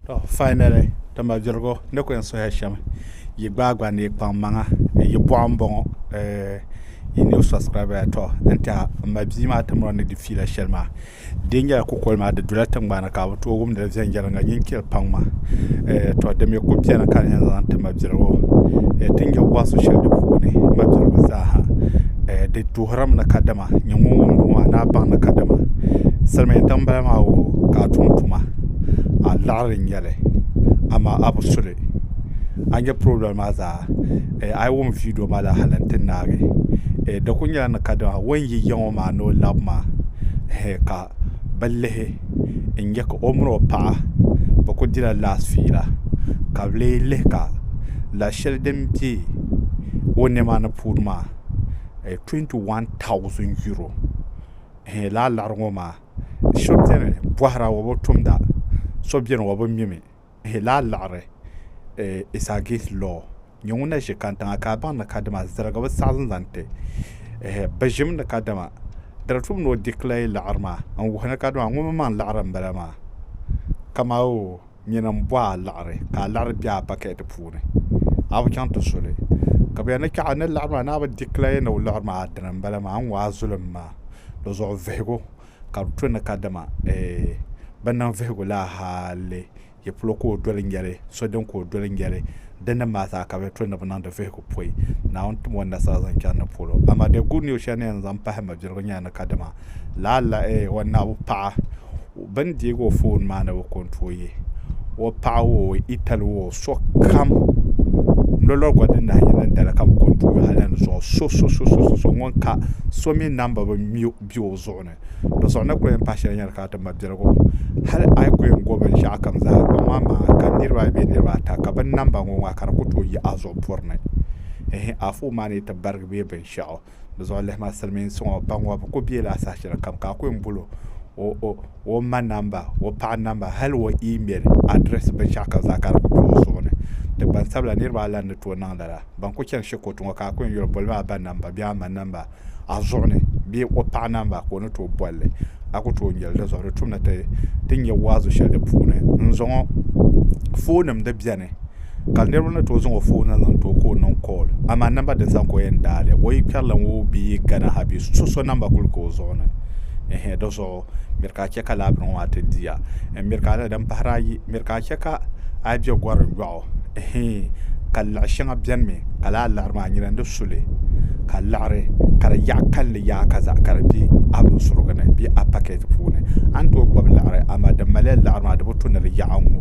To finally tuma dirigu ni ku yɛn suhiya shɛm yi gbaai gba ni yi kpaŋ maŋa yi bɔɣu n bɔŋɔ yi new subscriber ya to n tɛha n ma bia maa ti mɔri ni di fiila shɛli maa di yɛn nyɛla kukoli maa di dula tiŋgbani ka bi tooi wumdi li viɛnyɛliŋga nyin kpiri paŋ ma to di mi ku bɛni ka di yɛn zaŋ ti ma dirigu ti nyɛ wasu shɛli di puuni ma dirigu zaaha di tuhirimi ni kadama nyɛ ŋun wumdi ŋɔ maa ni a baŋ ni kadama silmiin tiŋ bala maa wo ka a tum tuma a laɣiri n nyɛli amaa a bi suli a ni nyɛ pirobili maa zaa a yi wum viideo maa la hali n ti naagi di ku nyɛla ni kadama o ni yi yɛŋ o maa ni o lab maa ka bi lihi n nyɛ ka o mini o paɣa bi ku dila laati fiila ka bi lee lihi ka lahi shɛli din bɛ o niɛma ni puuni maa tuwɛnti wan taauzin yuro lala liɣiri ŋɔ maa so beni bɔhira o bi tumda so beni o bi mimi hii lahi liɣiri isagiis lɔɔ nyɛ ŋun na ʒe kantiŋa ka a baŋ ni kadama ziligi bi saɣi zaŋ ti ɛɛh bi ʒimi ni kadama dara tum ni o dikilayi liɣiri maa n wuhi ni kadama ŋuni mi maŋ liɣiri m bala maa kamawoo. nyina m bɔ a liɣiri ka a liɣiri be a bakɛt puuni a bi chaŋ ti su li ka bɛ ni chaɣ a ni liɣiri maa ni a bi dikilaye ni o liɣiri maa a dina m-bala maa a ni ŋɔ a zulim maa di zuɣu vihigu ka di to ni kadama eeh bɛ niŋ vihigu la hali yi polo ka o doli nyɛli so din ka o doli nyɛli Di ni mali zaa ka bɛ to ni bɛ niŋdi vihigu pɔi Naawuni tim o nasara zaŋ chani ni polo. Amaa the good news shɛli ni yɛn zaŋ pahi mabirigu nyɛla ni kadama lala eh, o naɣibu paɣa bɛ ni deegi o foon maa ni bɛ ko n-tooi yi o paɣa woo, o itali woo, o sokam lolɔri gba din nahi yɛn niŋ dali ka bɛ ko n-tooi yi hal ni zuɣu so so so so so ŋun ka so mi namba bi mi o zuɣu ni. do suɣu ni ku yɛn pahi shɛli nyɛli ka ti ma biɛligu hali a yi ku yɛn go binshɛɣu kam zaa kpaŋ maa maa ka niraba ayi bee niraba ata ka bin namba n ŋɔ ŋɔ ka di ku tooi yi a zuɣu puri ni ɛhɛn a foon maa ni yi ti barigi bee binshɛɣu di zuɣu lihima silmiinsi ŋɔ ba ŋɔ bi ku bɛ laa saha shɛli kam ka a ku yɛn bolo o o o ma namba o paɣa namba hali o iimɛl adirɛs binshɛɣu kam zaa ka di ku bɛ o zuɣu ni ti gbansabila niraba ayi la ni tooi niŋ lala ban ku chɛni shikuru ti ŋɔ ka a ku yɛn yuli boli maa a ba namba bee a ma namba a zuɣu ni bee o paɣa namba ka o ni tooi bolli a ku tooi nyɛli dinzuɣu di tumdi ti ti nyɛ waazu shɛli di puuni n zaŋɔ foon nim di biɛni ka niraba ni tooi zaŋɔ foon nim zaŋ tooi ka o niŋ kool amaa namba din zaŋ ka o yɛn daali o yi kpɛrila ŋo bee gana ha bee so so namba kuli ka o zuɣu ni ɛhɛn dizuɣu miri ka a chɛ ka laabiri ŋo maa ti diya n miri ka a din pahari ayi miri ka a chɛ ka a bɛ gɔri yɔɣu hee ka laɣ shɛŋa bɛni mi ka laa laɣiri maa nyina ni su li ka laɣiri ka di yaɣ kalinli yaai ka zaɣ kara bɛ a binsurigu ni bee a pakɛt puuni a ni tooi gbubi laɣiri amaa din maliya laɣiri maa di bi tu ni di yaɣ a ŋɔ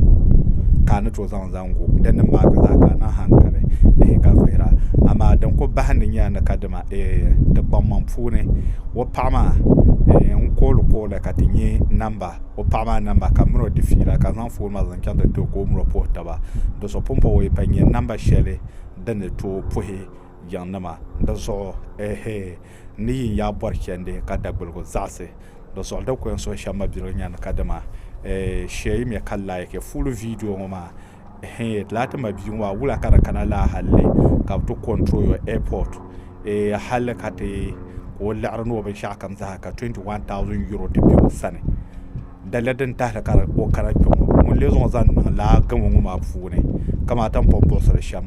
ka a ni tooi zaŋ zaŋ gu din ni maaki zaa ka a niŋ hankali hee ka vihira amaa din kuli bahindi nyɛla ni kadama eeh ti kpaŋmaŋ puuni o paɣa maa n kooli kooli ka ti nyɛ namba o paɣa maa namba ka miro di fiila ka zaŋ foon maa zaŋ chaŋ ti too ka o miro puhi taba do so pun puhi o pa nyɛ namba shɛli din ni tooi puhi yiŋ nima di zuɣu ehe n ni yin yaa bɔri chɛndi ka dagbulgu zaɣisi di zuɣu di ko n suhi shɛm mabiligu nya ni ka dima ee shɛyimiya ka laiki full video ŋɔ maa Hey, laati ma bia ŋɔ a wula ka di kana laa halli ka bi ti control your airport eh, halli ka ti ka o liɣiri ni o binshaɣu kam zaha ka 21000 euro ti bɛ o sani dali din tahali ka o kana kpɛ ŋɔ ŋun le zuɣu zaŋ niŋ laa gamo ŋɔ maa puuni kamata n pun buɣusiri shɛm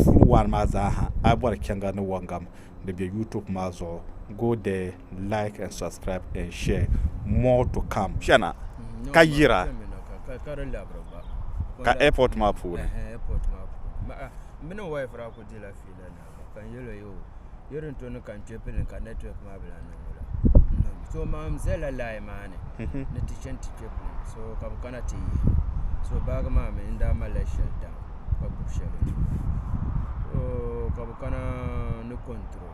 full one maa zaaha a bɔri chɛŋga ni wɔngam di bɛ youtube maa zuɣu go there like and subscribe and share more to come chana ka yira ka airport maa puuni mini wife ra ku dila fiila na kan yelo yo irin to ni kan che pilin ka network maa bila niŋ wula so maam zala lai maa ni mhm. ni ti chen ti che pilin so ka bi kana ti yi so baagi maa mi n daa malila shɛli daŋ ka gbubi shɛli ka bi kana ni control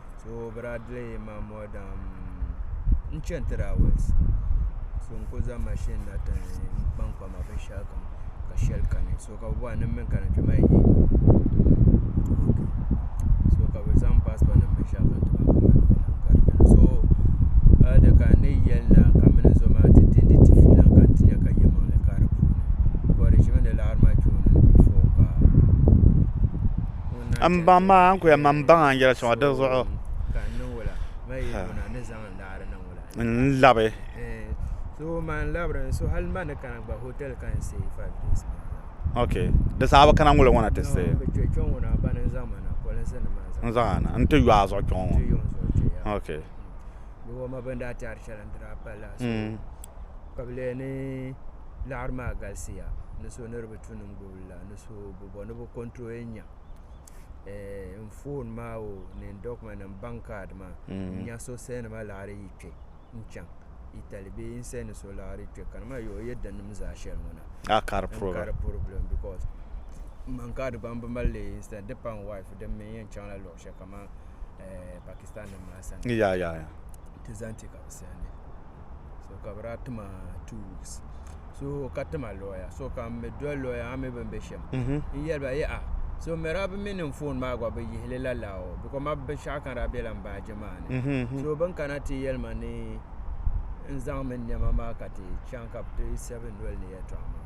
so bɛ daa dila man more than n-chani three hours so n-kuli zaŋ machine na ti n-kpankpa ma binshɛɣu kam ka shɛli kani so ka bɛ bɔhiri ni m mi n-kana kpe maa n-yi ok so ka bɛ zaŋ passport nim binshɛɣu kam ti ba ka mani maa lahi gari kpe na so a ni kana n-ni yɛli na ka m mini zo maa ti di ni ti fiila ka n ti nya ka yimaŋli ka di puuni bcos di ʒimi ni laɣiri ma kpe o ni before paa. N baŋ ma a ni ku yɛn ma n baŋ a n yɛli soŋ di zuɣu n labi ok di saha bi kana ŋoli ŋɔ na ti said n zaŋ a na n ti yo a zuɣu kpɛ ŋɔ ok kuli la ni so bi bɔ ni bi control yɛn nya eh, n phone maa o ni n document n bank card maa Mm. n nya so send ma laɣiri yi kpe n chaŋ Italy bee n send so laɣiri kpe ka ma yo yɛ din nim zaa shɛli ŋɔ na a kari n puriba kari problem because n man card gba n bi mali li instead di pa n wife din mi yɛn chaŋ la luɣi shɛli kamani eh, Pakistan nim maa sani ya ya ya ti zaŋ ti ka bi send so ka bi daa tima two weeks so ka tima lawyer so ka n mi doli lawyer maa mi bin be shɛm n yɛli ba yaha so mɛra bi mi niŋ phone maa gba bi yihili la laa o because ma binshɛɣu ka daa bela n baaji maa ni so bin kana ti yɛli ma ni n zaŋ mi nɛma maa ka ti chaŋ ka bi ti seven doli ni yɛltɔɣa maa.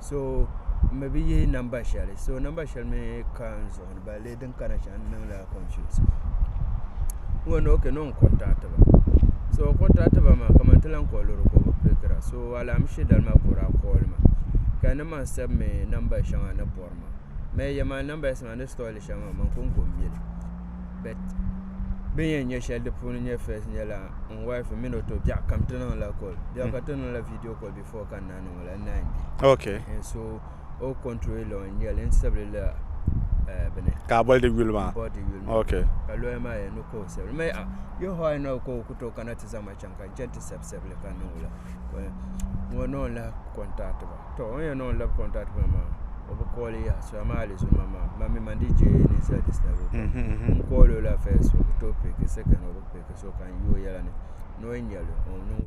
so n mi bi yihi namba shɛli so namba shɛli mii ka n zuɣu ni ba lee din kana shɛli n niŋla confuse n bɔn ok ni n contact ba so contact ba maa kamani ti lahi kɔhiri lɔɔri ka o bi pickira so alaamisi dali maa ka o daa call ma ka n ni man save mi namba shɛŋa ni bɔri ma n mi yɛli ma namba shɛŋa ni store li shɛli maa man ko n ko n mi li but bin yɛn nyɛ shɛli di puuni nyɛ first nyɛla n wife mini o to biɛɣu kam ti niŋla call biɛɣu kam ti niŋla video call before fɔ ka naan ŋɔ la naan bɛ okay and so o control law n nyɛli n sabili la uh, bini ka boli di yuli maa bɔ di yuli maa okay ka lɔya maa yɛn ni ka o sabili mɛ a yo hɔ a na ka o ku to kana ti zaŋ ma chaŋ ka n chɛn ti sabi sabili ka niŋ la Ka ŋɔ ni o lahi contact ba to o yɛn ni o lahi contact ba maa o bi kɔɔli yaha so amaa alizuma maa man mi man di je ni sa di sabi o Mhm, mhm. n kɔɔli o la first o bi to piki second o bi piki so ka n yi o yɛla ni ni o yɛn nyɛli o niŋ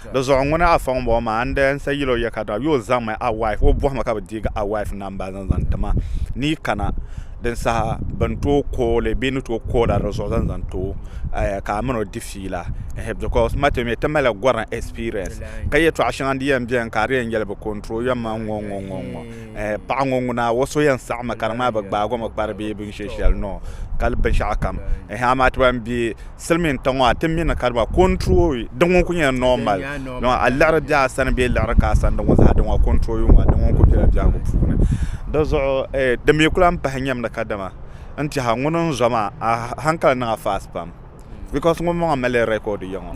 Di zuɣu ŋuna afa ŋun bɔŋɔ maa, n di n sa yil o ya ka daa yo o zaŋ mi a wife, o bɔhima ka bɛ deegi a wife namba zaŋ zaŋ ti ma ni yi kana din saha bɛ ni tooi koo o li bee ni tooi koo la di zuɣu zaŋ zaŋ ti o ka a min o di fiila ehe because ma ti mi ti mali la gorim experience ka yɛtɔɣa shɛŋa di yɛn beni ka a di yɛn yɛli bɛ control ya ma ŋɔ ŋɔ ŋɔ ŋɔ ehe paɣa ŋɔ ŋuna o so yɛn saɣimi ka di ŋmani bɛ gbaagi o mi kpari bee binshɛ shɛli noo ka binshɛɣu kam ehe amaa ti ban be Silimiin tiŋ ŋɔ ti mi ni ka di ba control di ŋɔ ku nyɛla normal dɔnki a liɣiri bɛ a sani bee liɣiri ka a sani di ŋɔ zaa di ŋɔ control yu ŋɔ di ŋɔ ku bɛla biɛhigu puuni di zuɣu di mi ku lahi pahi nyamdi ka dama n tɛha ŋuni n zo maa a hankali niŋya fast pam because ŋuni maŋ mali record yiŋɔ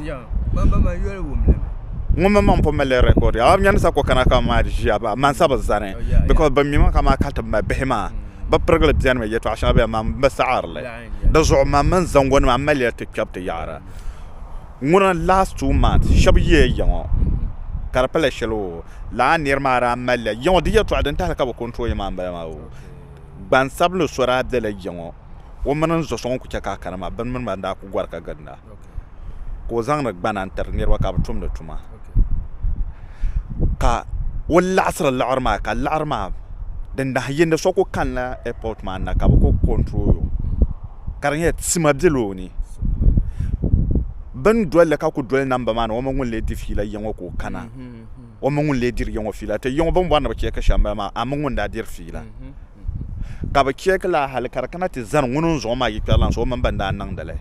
ŋuni mi maŋ pun mali record yiŋɔ a ni yɛn sa ku kana ka maa di ʒiya a man sa bi zani because bin mi ma ka maa ka ti mali bihi maa bi pirigili bɛni mi yɛltɔɣa shɛŋa bɛni maa n bi saɣiri li. Di zuɣu man mini zango nima maliya ti kpɛbu ti yaɣara ŋuna last two months shɛba yiya yiŋɔ ka di pala shɛli oo lala niri maa daa maliya yiŋɔ di yɛltɔɣa din tahili ka bi control ya maa m-bala maa oo gbansabinli so daa bela yiŋɔ o mini n zɔso ŋun kuli che ka a kana maa bini mini ba n-daa kuli gɔri ka ginda. ka o zaŋdi gbana n tiri niraba ka bi tumdi tuma ka o laɣasiri laɣari maa ka laɣari maa di nahi yindi so ku kanila ɛipot maa ni na ka bi ku kontirolo ka di nyɛla tima biɛla o ni bi ni dolili ka ku doli namba maa ni o mii ŋun lee diri fiila yɛŋo ka o kana o mii ŋun lee diri yɛŋo fiila ti yɛŋo bin bori ni bi chɛ ka shɛli n bala maa a mii ŋun daa diri fiila ka bi chɛ ki laa hali ka di kana ti zani ŋuni n zuɣu maa yi kpɛri laŋ so o mini ban daa niŋdili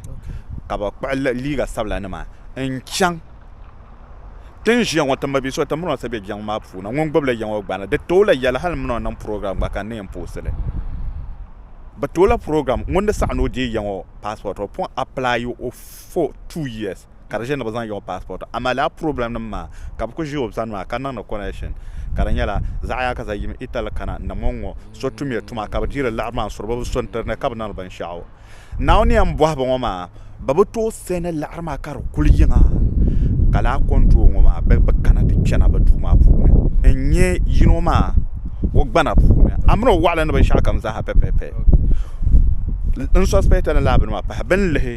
ka bi kpuɣi liiga sabila nima n chaŋ tin ʒiya ŋɔ ti mabiisi o ti miri so bɛ jiŋ maa puuni ŋun gbubila yiŋ o gbana di tooi la yɛli hali mini o niŋ program gba ka n ni yɛn poosili bi toola program ŋun ni saɣam ni o deei yiŋ o passport o pun apply o for two years ka di ʒe ni bɛ zaŋ yiɣi passport amaa lala problem nim maa ka bɛ kuli ʒe o sani maa ka niŋdi connection ka di nyɛla zaɣ'yaa ka za yim Italy kana ni ŋɔ ŋɔ so tumiya tuma ka bɛ diri liɣiri maa n-suri bɛ bi so n-tiri ni ka bɛ niŋdi binshɛɣu Naawuni ni yɛn bɔhi ba ŋɔ maa bɛ bi tooi sani liɣiri maa ka di kuli yiŋa ka lala control ŋɔ maa bɛ bi kana ti kpɛna bɛ duu maa puuni n-nyɛ yino maa o gbana puuni a mini o waɣili ni binshɛɣu kam zaa ha pɛpɛpɛ n suspect ni lala bini maa pahi bɛ ni lihi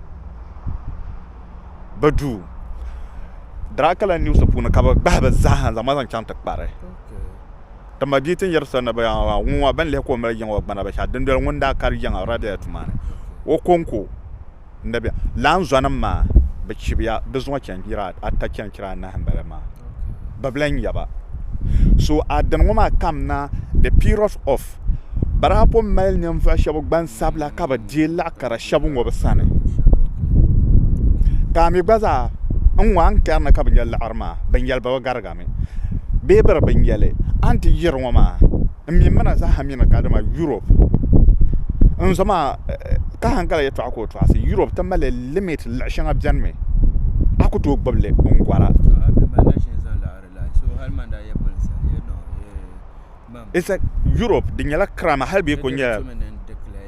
bi duu Dracula news puuni ka bi gbahi bi zaaha n zaŋba zaŋ chaŋ ti kpari ti mabia ti ni yɛri soli ni bi yaŋa maa ŋun ŋɔ bin lihi ka o mali yiŋa o gbana binshaɣu dundoli ŋun daa kari yiŋa o daa biɛla tuma ni o konko n na bɛ lala zuɣu nim maa bi zuŋɔ chɛnchira ata chɛnchira anahi n bala maa bibila n-nyɛ ba so adin ŋɔ maa kamina the period of biraabo mali ninvuɣ shɛba gbansabila ka bɛ deei laɣ kara shɛba ŋɔ bɛ sani ka a mi gba zaa n ŋɔ a ni kari ni ka bɛ nya laɣiri maa binyɛliba bi garigami bee bɛ di binyɛli a ni ti yiri ŋɔ maa n mi mina zaaha mi ni ka dama yurop n zo maa ka hali gari yɛltɔɣa ka o tɔɣisi yurop ti mali limit luɣ shɛŋa bɛni mi a ku tooi gbubili n gɔra yurop di nyɛla kirama hali bee ku nyɛla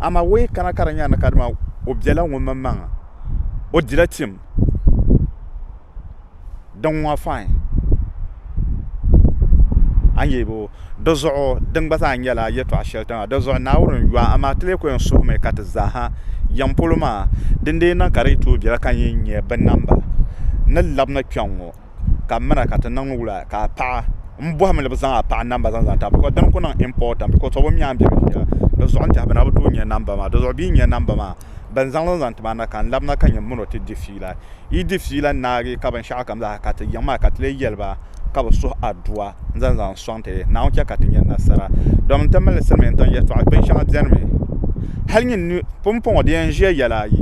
Amaa o yi kana ka di nya ni kadama o bela ŋumanmaŋa, o dila tim. Din ŋɔ fain. A ni yɛli o, di zuɣu din gba zaa nyɛla yɛtɔɣ shɛli tiŋa. Di zuɣu Naawuni n-yɔh a, amaa ti lee kul yɛn suhimi ka ti zaaha yɛm polo maa, din dii niŋ ka di yi tooi bela ka n yi nya binnamba ni labina kpɛŋŋɔ. ka m mina ka ti niŋ wula ka a paɣa m bɔhim ni bɛ zaŋ a paɣa namba zaŋ tabili bikɔs din kuli niŋ impɔtin bikɔs o bi nya m biɛhigu shɛl di zuɣu n tɛha bɛ na bi tooi nya namba maa di zuɣu bɛ yi nya namba maa bɛn zaŋ li zaŋ ti ma na ka n labina ka nyɛ m min o ti di fiila yi di fiila naagi ka binshɛɣu kam zaa ka ti yiɣi maa ka ti leei yɛli ba ka bɛ suhi adua n zaŋ zaŋ sɔŋ ti Naawuni chɛ ka ti nya nasara dɔmin ti mali silimiin tiŋ yɛltɔɣa binshɛŋa bɛnimi hali nyini pumpɔŋɔ di yɛn ʒiya yɛla ayi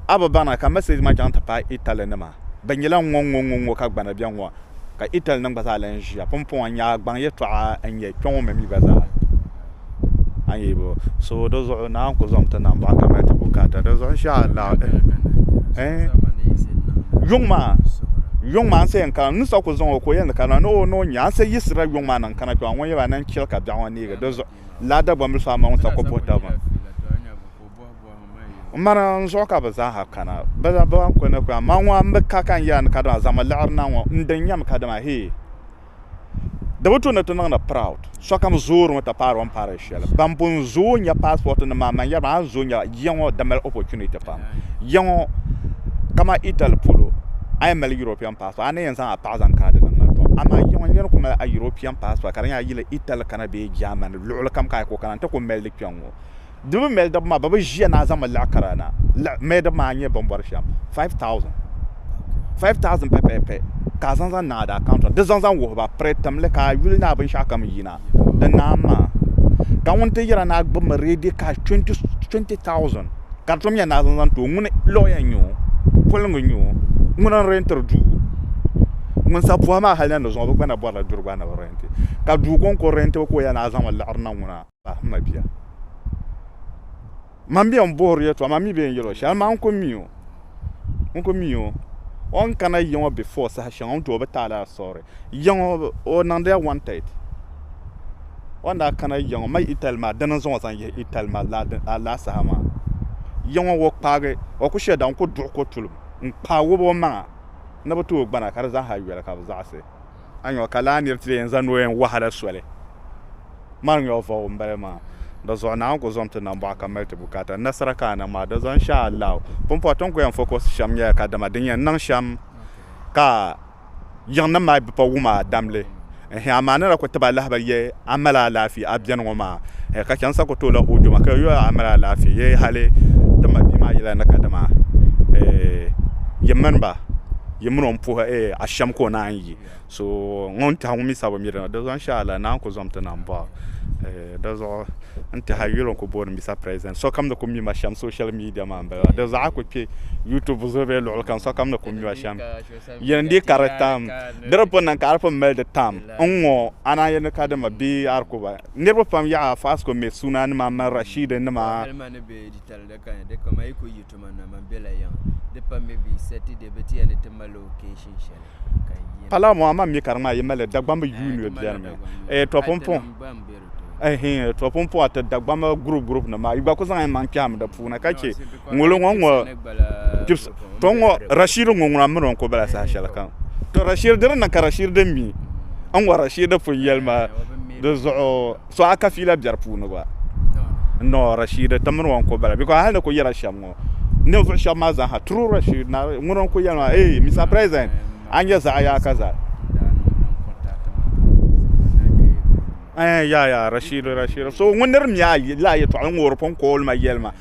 a bi baŋ na ka mɛsɛs maa chaŋ ti paai Italy nima Bɛ nyɛla ŋɔŋɔŋɔŋɔ ka gbana bɛ ŋɔ, ka Ital nim gba zaa lan ʒiya. Pumpɔŋɔ nyaagbaŋ yɛtɔɣa n-nyɛ kpe ŋɔ mi mi gba zaa. A yi bo so di zuɣu ni a ni ku zaŋ ti nam baɣa kamali ti bukaata di zuɣu insha Allah. Yuŋ maa, yuŋ maa n-sa yɛn kana n ni sa ku zaŋ o ka o yɛn ni kana ni o ni o nya n-sa yiɣisirila yuŋ maa ni n-kana kpe ŋɔ ŋun yɛba ni n-chɛli ka biɛɣu ŋɔ neegi di zuɣu laa Dagbambili so a ma ŋun sa ku buhi taba maa. Ŋmani n zuɣu ka bɛ zaaha kana, bɛ daa bi lan kuli ni kpɛma. Man ŋɔ m-bi ka ka n yɛra ni kadama zaŋmi liɣiri na ŋɔ, n din nyami kadama hee. Di bi tu ni ti niŋdi proud. Sokam zoorimi ti paari o ni paari shɛli. Ban pun zooi nya passport-nim maa, man yɛri ba a ni zooi nyɛla ya ŋɔ di mali opportunity pam. Ya ŋɔ kamani Italy polo, a yɛn mali European passport, a ni yɛn zaŋ a paɣa zaŋ kaai di niŋ ma tɔ. Amaa ya ŋɔ niriba kuli mali a European passport ka di nyɛla a yi yili Italy kana bee Germany, luɣilikam ka a yi kuli kana nti kuli mali di kpɛŋ ŋɔ. Di mi mɛlidib maa bɛ bi ʒiya ni a zaŋ mi liɣi kara na. Liɣi mɛlidib maa n-nyɛ bɛn bɔri shɛm 5000. 5000 pɛpɛpɛ ka a zaŋ zaŋ niŋ a daa kaunta di zaŋ zaŋ wuhi ba piri tim li ka a yuli ni a binshɛɣu kam yina di naam maa. Ka ŋun ti yɛra ni a gbib mi ready cash 20000 ka di tom yɛn ni a zaŋ zaŋ ti o ŋuni lawyer n-nyɛ o, poliŋga n-nyɛ o, ŋuni n-rɛntiri duu. Ŋun sa buhi maa hali ni di zuŋɔ bɛ gba na bɔrila duri gba ni bɛ rɛnti. Ka duu kɔŋko rɛntibu ka o yɛli ni a zaŋ mi liɣiri na ŋuna. pahi ma bia man bɛ n buhiri yɛtɔɣa man mi bɛ n yɛlo shɛli maa n ku mi o n ku mi o o ni kana yi ŋɔ bifɔɔ saha shɛŋa n tooi bi taali asɔri ya ŋɔ o niŋdila wantɛd o ni daa kana ya ŋɔ mali itali maa dini n zaŋ o zaŋ yihi itali maa lala saha maa ya ŋɔ o kpaagi o ku shɛli daa n ku duɣi ko tulim n kpaai wɔbi o maŋa ni bi tooi gbana ka di zaaha yoli ka bi zaɣisi a nyɔɣu ka laa nir ti leei n-zaŋ noo yɛn wɔhi a la soli. Mani nyɔɣu vɔbu m-bala maa. Di zuɣu Naawuni ku zaŋm ti nambɔɣu ka mali ti bukaata. Nasara ka a niŋ maa, di zaŋ shɛ Allahu. Pumpɔŋɔ ti ni ku yɛn fokɔsi shɛm nyɛla kadama din yɛn niŋ shɛm ka yiŋnim maa bi pa wum a damli. Ɛhɛ amaa a ni daa ku tib alahabali yɛli a mali alaafee a beni ŋɔ maa, ɛhɛ ka chɛmsa ku tooi la o duma ka yɛl o yɛla a mali alaafee yɛli hali ti mabia maa yɛla ni kadama yi mini ba. yi mini o n puhi ashɛm ka o naan yi so ŋun tiɛhi ŋun mi sabi mi dini di zuɣu insha Allah naa n-kuli zaŋ ti na m-bɔɣi o di zuɣu n-tiɛhi a yuli o ni kuli booni Mister President sokam ni kuli mim ashɛm social media maa m-bala di zuɣu a kuli kpe YouTube zuɣu bee luɣili kam sokam ni kuli mim ashɛm yin di ka di tam di ni pun niŋ ka a di pun mali di tam n-ŋɔ a naan yɛli ni ka dima bee a di ku ba niriba pam yaha Fasco Mɛ Suuna nima Mɛ Rashid nima Pala mo ama mi ka di ŋmaa yi mali dagbambi yuun yo biɛri mi eh, to pumpɔŋ eh, to pumpɔŋ ti dagbambi gurup gurup ni maa yi gba ku zaŋ maŋ kpɛhim di puuni ka che ŋolo ŋɔ ŋɔ to ŋɔ rashid ŋɔ ŋuna mini o ku bala saha shɛli kam to rashid diri ni ka rashid mi n ŋɔ rashid pun yɛli ma di zuɣu So a ka fiila biɛri puuni gba? Noo, Rashiid, ti mini o n-kul bala, bikos hal ni kul yɛla shɛm ŋɔ, ninvuɣ shɛb maa zaaha. True, Rashiid, Naawuni ŋun o ni kul yɛli maa, Eey, Mister President, a nyɛ zaɣ yaa ka zali. Eey, yaa, yaa, Rashiid, Rashiid, so ŋun nir mi a yi lahi yɛtɔɣili ŋɔ o di pun kool ma yɛlima.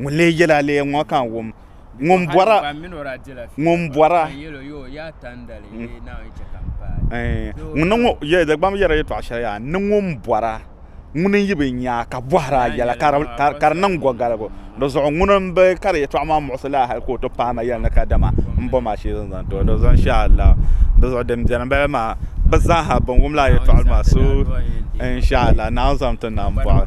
Ŋun lee yɛla aleya ŋɔ ka n wum. Ŋun bɔra. Ŋun bɔra. Ŋuni ŋɔ yɛ dagbam yɛra yɛtɔɣa shɛli yaa ni ŋun bɔra ŋuni n yi bi nyaa ka bɔhiri a yɛla ka di niŋ gɔgaligu di zuɣu ŋuni n bi kari yɛtɔɣa maa muɣisi laa hali ka o ti paai ma yɛli ni kadama m bom ashee zaŋ zaŋ ti o di zuɣu inshaallahu di zuɣu din beni m-bala maa bɛ zaa ha bɛn wum lala yɛtɔɣa maa so inshaallahu Naawuni zaŋm ti nam bɔɣu.